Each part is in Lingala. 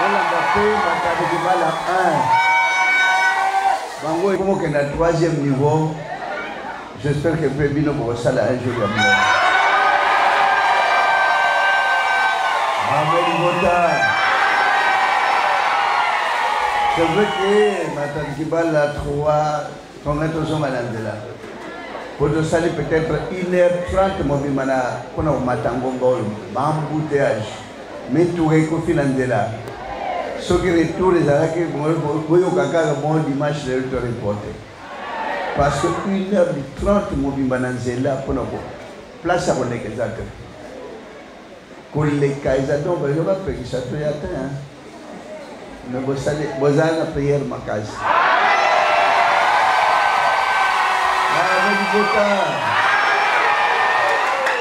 bolanda mpe matadi libala 1 bango ekokokenda 3e niveau j'espère que mpe bino bokosala un jour ya mona amelibota c'est vrai que matadi libala 3 Congrès tozonga na nzela po tosali peut-être 1 heure 30 mobimba na mpo na komata ngonga oyo baembouteillage mituka ekufi na nzela soki retour ezalaki boyoka kaka bon dimanche lelo to reporte parce que 1 heure du 30 mobimba na nzela mpo na place ya kolekeza te koleka eza donc bayo bapekisa to ya te me bosali bozala na priere makasi libota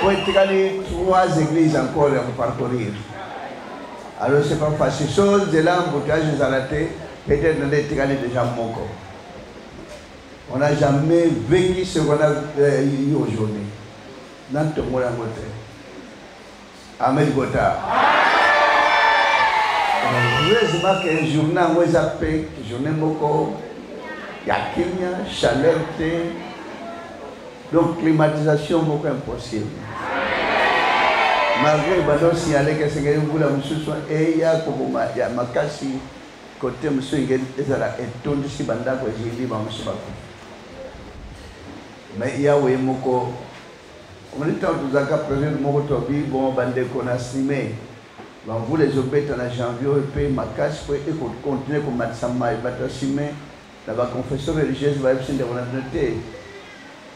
po etikali trois églises encore ya koparcourir alors c'est pas facile so nzela emboutage ezala te peut-être nde etikali déjà moko on n'a jamais vécu ce qu'on a euh, eu aujourd'hui Na ntongo yango te. Amen kota. Heureusement que journée yango eza mpe journée moko ya kimia, chaleur te. Donc climatisation moko impossible. Malgré bazo signaler que esengeli mbula mosusu eya koboma ya makasi kote mosusu ezala etondisi bandako ezindi bamosusu bakufi. Mais Yahweh ye moko omoni ntango tozalaka president moko tobi bon bandeko na sime bamvula ezobeta na janvier oyo mpe makasi mpo ekokontinue komatisa mai bato ya sime na baconfession religieuse bayebisi ndeko na bino te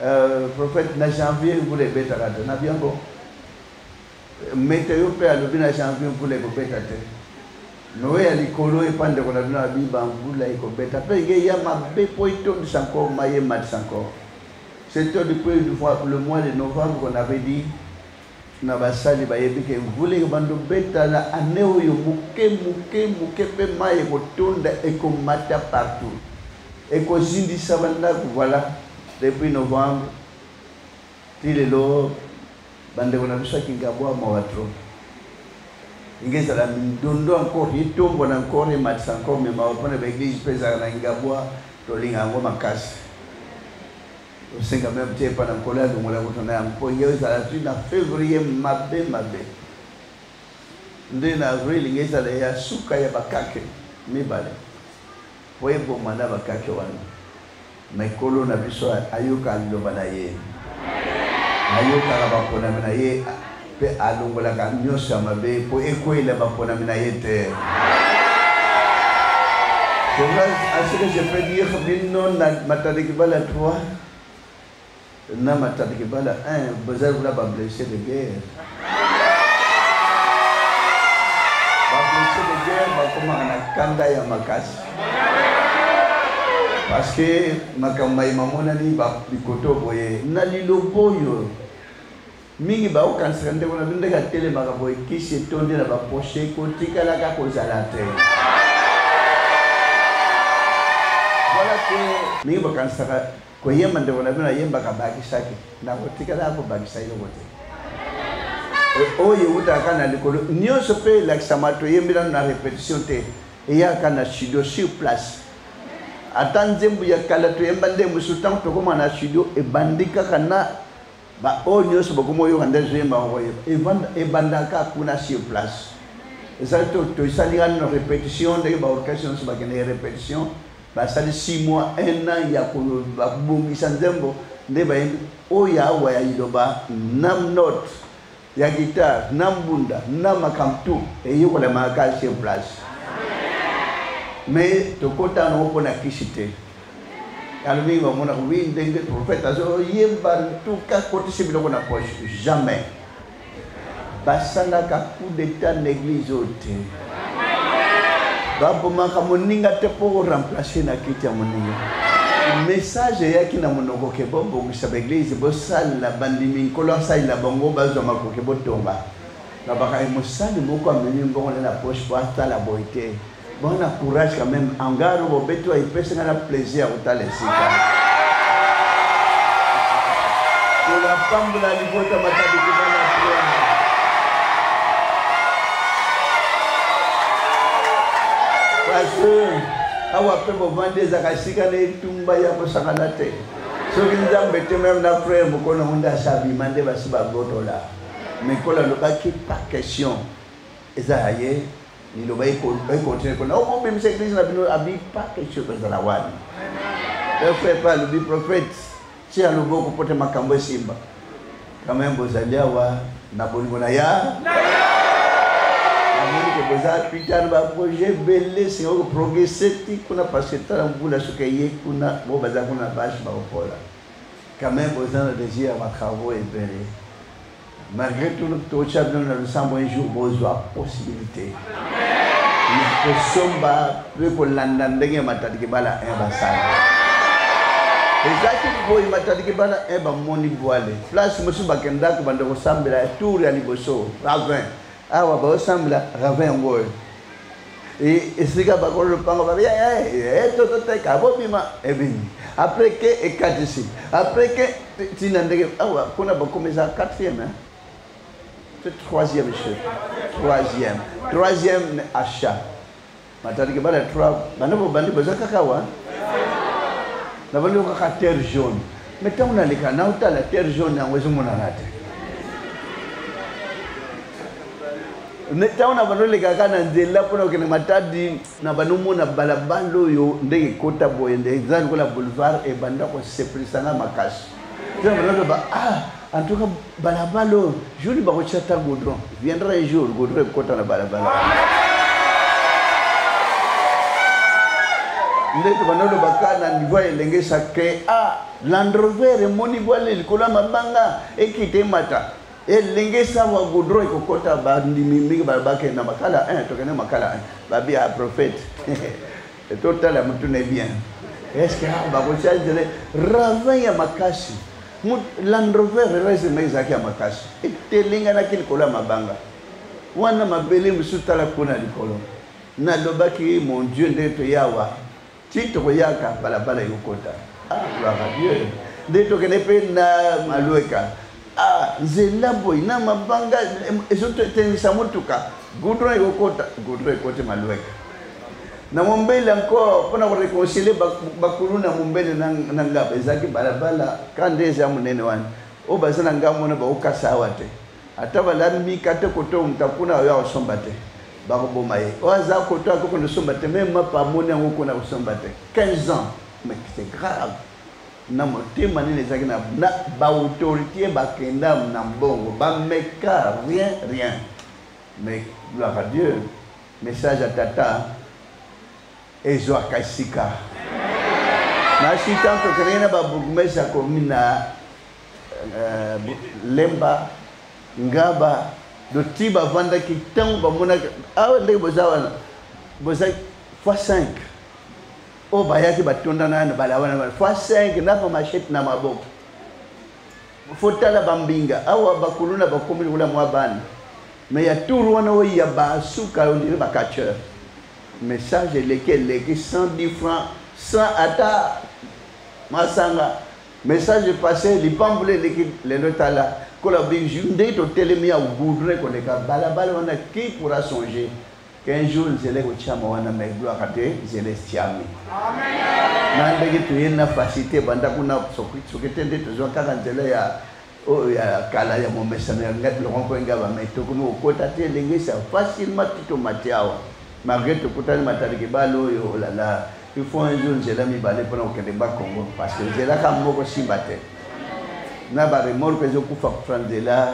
euh, prophète na janvier mvula ebetaka te na biango Meteo mpe alobi na janvier mvula ekobeta te. Noe ya likolo epa ndeko na bino abiba mvula ekobeta mpe nge ya mabe mpo etondisa nko maye ematisa nko. Surtout depuis le mois de novembre qu'on avait dit na basali bayebi ke mvula ekobanda obeta na ane oyo moke moke moke mpe mai ekotonda ekomata partout ekozindisa bandako voilà depuis novembre Ti lelo bandeko na biso ya Kingabwa mawa trop. Ndenge ezala mindondo encore etombwa na encore ematisa encore mais mawa mpo na ba eglise mpe ezalaka na Kingabwa tolinga yango makasi. Tosenga meme te epa na nkolo ya longola kutu na yango mpo yo ezala ti na fevrier mabe mabe nde na avril nge ezala ya suka ya bakake mibale. Po eboma na ba kake wana. Mais Nkolo na biso ayoka liloba na ye. Ayokaka baponami na ye pe alongolaka nyonso ya mabe po ekweyela baponami na ye te. Cela, à ce que je peux dire, maintenant, Matane Kibala 3, Na matadi kibala hein boza lokola ba blesse de guerre. Ba blesse de guerre bakomaka na kanda ya makasi. Parce que makambo maye mamonani ba bikoto boye na liloba oyo mingi baokanisaka ndeko na bino ndenge atelemaka boye kisi etondi na baposhe kotikalaka kozala te voilà que mingi bakanisaka Koyemba ndeko na bino ayembaka bakisaki na kotikala ya kobakisa eloko te oyo ewutaka na likolo nyonso mpe elakisama toyembi nano na repetition te eyaka na studio sur place ata nzembo ya kala toyemba nde mosusu ntango tokóma na studio ebandi kaka na baoyo nyonso bakomi oyoka nde ezoyemba okoyeba ebandaka kuna sur place ezali tosalingani na repetition ndenge baorchestre nyonso bakendeke repetition Basali six mois, un an ya ko ba bongisa nzembo nde bayembi oyo ya awa ya liloba na note ya guitare na mbunda na makambo tu eyokolema kaka sur place me tokota nango mpo na kisi te yango mingi bamonaka wi ndenge prophète azoyemba ntuka kotisi biloko na poche jamais basalaka coup d'etat na eglise oyo te babomaka moninga te mpo oremplace na kiti ya moninga message eyaki na monoko ke bobongisa baeglise bosalela bandimi nkolo asalela bango bazwa makoki botonga babaka mosali moko amemi mbongo na na poche mpo atala boye te Bana courage quand même angaro bobetwa epesi nga na plaisir ya kotala esika kolapambola libota matabiki bana priere pasteur awa mpe bovandi ezaka esika na etumba ya kosakana te soki nzambe te meme na frere mokolo yango nde asabima nde basi bagotola mais kola alobaki par question eza ya ye liloba ekontinue kona okobimisa eglise na bino abi pa quelque chose ezala wana frère pa alobi prophète tia loboko mpo te makambo esimba quand même bozali awa na bolingo na ya namoni ke boza pita na baprojet ebele singa koprogrese ti kuna parce que tala mbula soki eye kuna bo baza kuna na bashe bakopola quand même boza na désir ya batravaux ebele Malgré tout, tocha bino na losambo un jour bozwa possibilité ya kosomba mpe kolanda ndenge ya matadiki bala 1 basala ezalaki boye matadiki bala 1 bamoni bwale place mosusu bakendaki banda kosambela tour ya liboso ravin awa baosambela ravin yango oyo esika bakolo lopango babi eh, eh, eh, tototeka bobima ebimi après ke ekatisi après ke tina ndenge awa ah kuna bakomi eza quatrième hein? c'est troisième chef troisième troisième achat matandiki bana trois bana bobandi boza kaka wa na bandi kaka terre jaune Mais ntango naleka naotala terre jaune yango ezomonana te ntango na bando olekaka na nzela mpona kokende matadi na bando omona balabala oyo ndenge ekota boye nde eza lokola boulevard ebanda kosepelisa nga makasi ntina bando aloba ah En tout cas, balabala oyo jour bakotya ata godron viendra un jour godron ekota na balabala ndeti banolobaka na niveau ya elenge sacre a landrover emoni bwale likolo ya mabanga ekita emata elenge sawa godron ekokota bandimi mingi balabakenda makala 1 tokende makala 1 babia prophète To tala mutu ne bien. Est-ce que ah, ba ko charge le ravin ya makasi. Mut Land Rover rese mais zaki ya makasi. Etelinga na kili kola mabanga. Wana mabele musu tala kuna likolo. Na lobaki mon Dieu nde to yawa. Ti to yaka balabala yokota. Ah, gloire à Dieu. Nde to kene pe na malueka. ah nzela boye na mabanga ezotengisa motuka goudron ekokota goudron ekoti malweka na mombele encore mpo na koreconcilie bakulu na mombele na ngaba ezalaki balabala ka nde eza monene wana oyo baza na ngambo wana bakokasa awa te ata balami mika te koto moto akuna oyo akosomba te bakoboma ye oyo aza koto akokende osomba te meme mapa amoni yango kuna kosomba te 15 ans mais c'est grave na motema nini ezalaki na baautorité bakenda na mbongo bameka rien rien mais gloire à dieu message ya tata ezwaka esika nasi tanto okendeki na babourgmestre ya commune na euh, lemba ngaba doti bavandaki ntango bamonaki awa ah, ndenge boza wana boza fois 5 oyo bayaki batonda nano balawana bana fois 5 na bamashete na maboko fotala bambinga awa bakuluna bakomi lokola mwa bana me ya tour wana oyo ya basuka ondire bacatcheur message eleki eleki 110 franc 100 ata masanga message passe lipambula eleki lelo tala kola biju nde totelemi ya goudre koleka balabala wana qui pourra songer Qu'un jour nzela ekotiama wana mais gloire à Dieu nzela estiami na ndenge toye na facilité banda kuna soki te nde tozwa kaka nzela ya oyo ya kala ya momesano ya lokompo engaba mai tokomi kokota te ndenge sa facilement ti tomati awa malgré tokutani matali kibale oyo olala oh il faut un jour nzela mibale mpona kokende ba congo parce que nzela ka moko simba te na baremorke ezokufa kufa nzela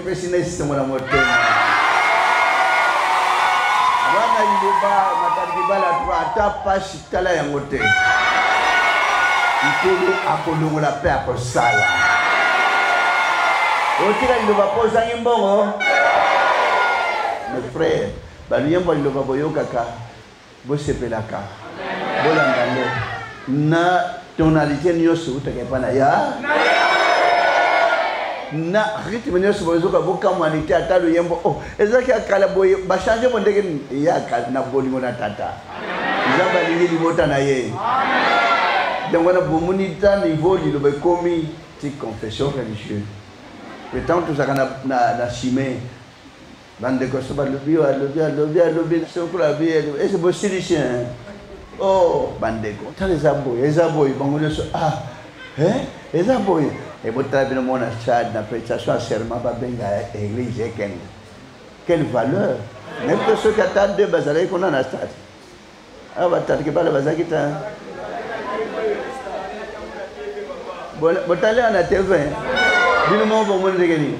pesi na esengo na motema wana liloba makambo libala to ata mpasi tala yango te nkolo akolongola mpe akosala otika liloba mpo ozangi mbongo mes frère baluyembo liloba boyokaka bosepelaka bolanda yango na tonalité nyonso eutaka epai na ya na rythme nyonso bozoka bokamwani te ata loyembo o oh, ezalaki ya kala boye bachange mo ndenge ya kala na bolingo na tata nzambe alingi libota na ye yango wana bomoni ta niveau liloba ekomi ti confession religieuse le temps tozalaka na, na, na chimie bandeko so balobi oyo alobi alobi alobi sokolo alobi ese bosilisi o oh, bandeko tala eza boye eza boye bango nyonso ah eh, eza boye ebotala eh, bino mona chad na prestation ya serment babenga église ekende quelle valeur nayebi te soki ata deux bazalaki kuna na stade awa batatke bana bazalaki ta botali awa na tv bino moko bomoni ndenge nini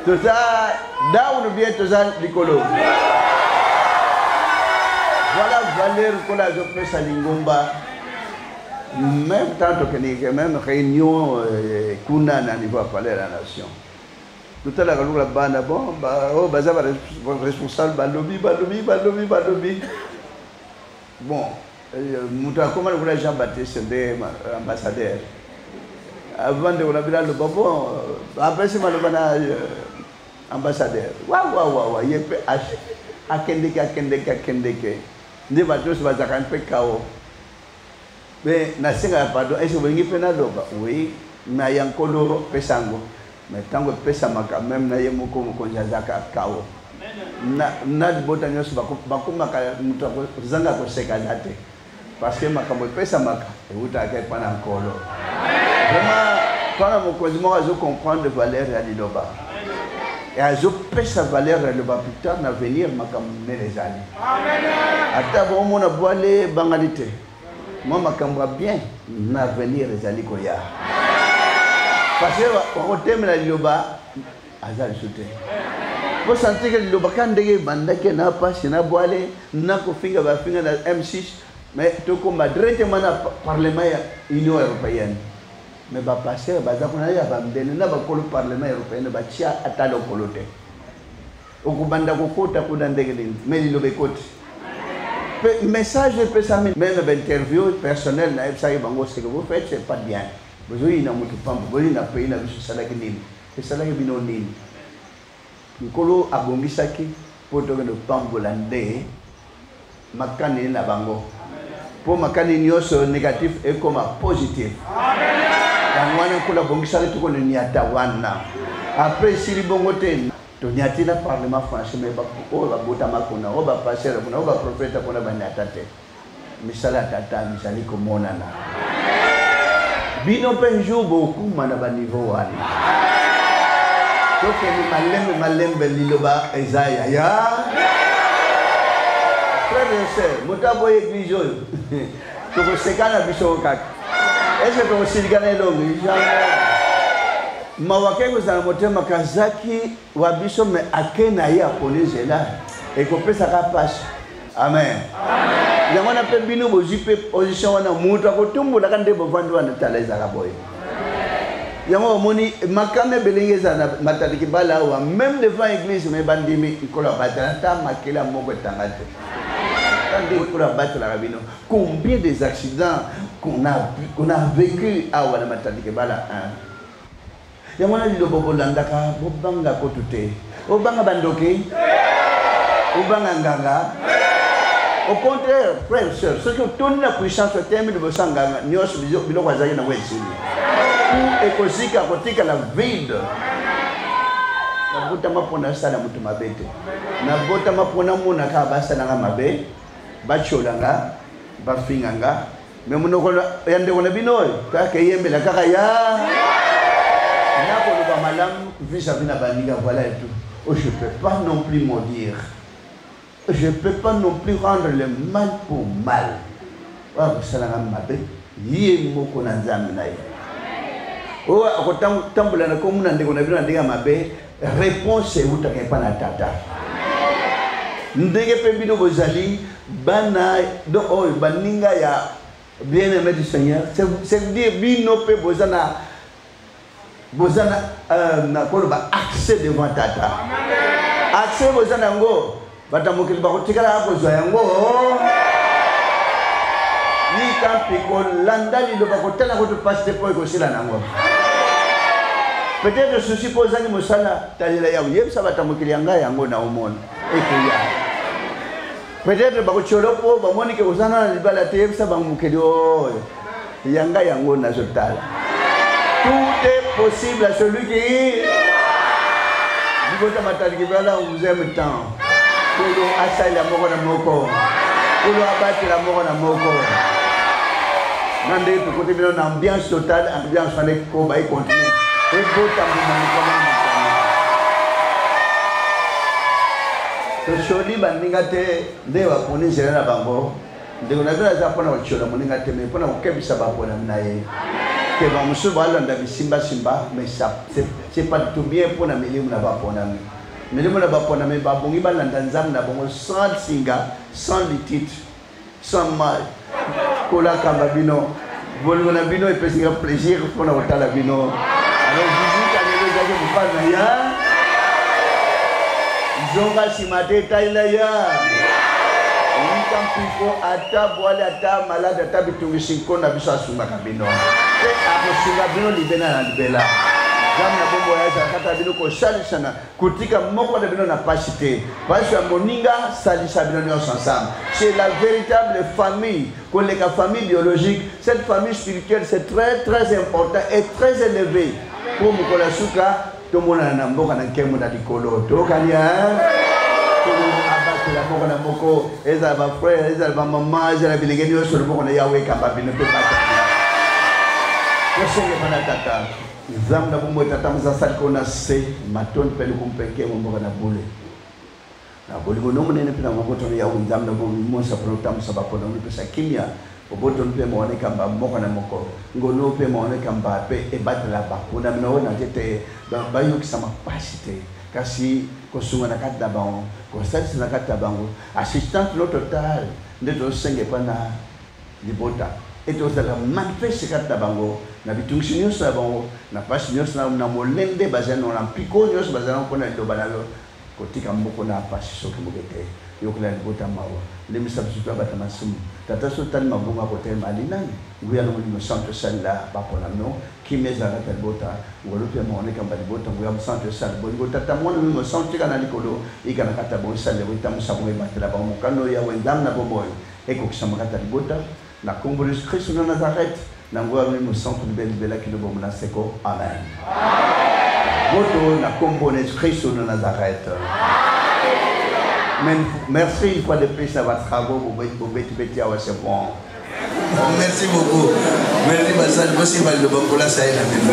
toza down bien toza likolo voilà valeur kola azopesa lingomba même temps tokendeke même réunion euh, kuna na niveau ya palais ya la nation totalaka lokola bana bon oyo oh, baza baresponsable balobi balobi balobi balobi bon euh, moto akoma lokola jean baptiste nde euh, ambassadeur avant ndeko na bino aloba bon euh, apesi maloba na ambassadeur wawawawa ye mpe akendeke akendeke akendeke nde bato nyonso bazalaka mpe kao Mais nasengaka pardon, est-ce que bolingi mpe naloba? Oui, na ya nkolo pesa yango. Mais ntango epesamaka meme na ye moko mokonzi azalaka kao. Na, na libota nyonso bakomaka moto akozanga koseka aza te. Parce que makambo epesamaka ewutaka epai na nkolo. Vraiment, mpona mokonzi moko azo comprendre valeur ya liloba. Et azopesa valeur ya liloba plus tard na venir makambo minene ezali. ata bomona bwale bangali te mwa makambo ya bien na avenir ezali koya parce bakotemela liloba aza lisu te mpo santike liloba ka ndenge ebandaki na mpasi na bwale na kofinga bafinga na m6 mais tokoma directement na parlement ya union européenne mais bapasteur baza kuna ya bambele na bakolo parlement européenne batya ata lokolo te okobanda kokota kuna ndenge nini me liloba ekoti mpe message epesami meme bainterview personnel nayebisaki bango seke vous faites c'est pas bien bozoyina motu pambo boyina pays na biso esalaki nini esalaki bino nini nkolo abongisaki mpo tokende kopambola nde makani na bango mpo makani nyonso negatif ekoma positif yango wana nkolo abongisaki tokona nyata wana apres esili bongo te tonyati na parlement français mai oyo babotama kuna oyo bapasere kuna oyo baprofeta kuna banyata te misala ya tata mizali komonana bino mpe un jour bokuma na baniveau wana tokende malembe malembe liloba eza ya ya frère et sœur moto aboyi église oyo tokosekana biso kaka ese tokosilikana elongi mawa ke kozala motema kazaki wa biso me ake na ye akoli nzela ekopesaka mpasi amen yango wana mpe bino bozwi mpe position wana moto akotumbolaka nde bovandi wana tala ezalaka boye yango omoni makama ebelenge ezala na matali kibala awa meme devant église me bandimi nkolo abatela ata makela moko etanga te nde nkolo abatelaka bino combien des accidents qu'on a, qu'on a vécu awa na matali kibala 1 yango wana lilobo bolandaka bobanga kutu te obanga bandoki obanga nganga au contraire frère sœur soki otoni na puissance otemi liboso ya nganga nyonso biloko azali nango esili ou ekozika kotikala vide nabotama mpo nasala moto mabe te nabotama mpo namonaka basalanga mabe batyola nga bafinga nga me monoko ya ndeko na bino oyo kaka eyembela kaka ya nakoloba malamu vis-à-vis na baninga voilà et tout oh, je peux pas non plus maudire je peux pas non plus rendre le mal pour mal oyo akosalanga mabe ye moko na nzambe na ye oyo akotambola na komona ndeko na bino na ndenge ya mabe Reponse ewutaka epai na Tata. Ndenge mpe bino bozali bana do oyo baninga ya bien aimé du Seigneur, c'est dire bino mpe boza na boza na euh, nakoloba accès devant Tata. Accès boza na yango bato ya mokili bakotikala ya kozwa yango yika mpe kolanda liloba kotala kutu mpasi te mpo ekosila nango peut-être susi mpo ozangi mosala talela yango yebisa bato ya mokili ya ngai yango na omona ekoya peut-être bakotyolo mpo bamoni ke ozana na libala te yebisa bango mokili oyo yanga yango nazotala tout est possible à celui qui libota matali kibala on vous aime tant kolo asalela moko na moko kolo abatela moko na moko na ndenge tokote bino na ambiance totale ambiance wana ekoba econtinue ebota mbuma mikolo tosoli baninga te nde baponi nzela na bango ndeko na bela aza mpo na kotyola moninga te mai mpo na kokebisa baponami na ye ke bamosusu balanda bisimbasimba mai c'est pas tout bien mpo na milimu na baponami milimu na baponami babongi balanda nzambe na bango sans singa sans litite sans mal kolakamba bino bolingo na bino epesi nga plaisir mpo na kotala bino alors visite alelo ezaki mopali na ya zonga nsima te etalela ya yika mpiko ata bwali ata maladi ata bitungisi nko na biso asungaka bino mpe akosunga bino libela na libela nzambe na bombo ya ezalakata bino kosalisana Kotika moko na bino na pasi te. Pasi ya moninga salisa bino nyonso ensemble. C'est la véritable famille. Koleka famille biologique, cette famille spirituelle c'est très très important et très élevé. Pour mokolo ya suka tomonana na mboka na nkembo na likolo. Tokani hein? abatela moko na moko ezala bafrere ezala bamama ezala bilenge nyonso loboko na yawe ekamba bino mpe bata tosengepa na tata Nzambe na bomoi tata moza asali ko na se matondi mpe lokumu mpe nkembo mboka na bule na bolingo no monene mpe na mobotono yawe nzambe na bomoi monso mpona otambwisa bapona onopesa kimia obotono mpe mawana ekamba moko na moko ngono mpe mawana ekamba mpe ebatela baponami na oyo na te te bayokisa mapasi te kasi kosunga na kati na bango kosalisa na kati na bango assistance no total nde tozosenga epa na libota ete ozalaka manifeste kati na bango na bitungisi nyonso ya bango na mpasi nyonso na, na molende bazali nango na mpiko nyonso bazali nango mpo na liloba na yo kotika moko na mpasi soki moke te yokela libota mawa lemisa biso toyabata masumu tata so otali mabongo ya kotelema alinani nguya na molimo santo esalela baponami no kimia ezalaka ta libota ngolu mpe maona ekamba libota nguya mosanto esala bolingo tata mwana molimo santo tika na likolo ikanaka ta bongo esalela koitambusa bongo ebatela bango mokano yawe nzambe na bomoi Ekokisama kati na libota, na kombo na Yesu Kristu na Nazareth, na nguya ya Molimo Mosantu, libela libela kino bomoi na seko. Amen. Boto na kombo na Yesu Kristu na Nazareth. Amen. Merci une fois de plus na ba travaux bobeti beti awa c'est bon. Merci beaucoup. Merci basali bosimba liloba kolasa ye na bino.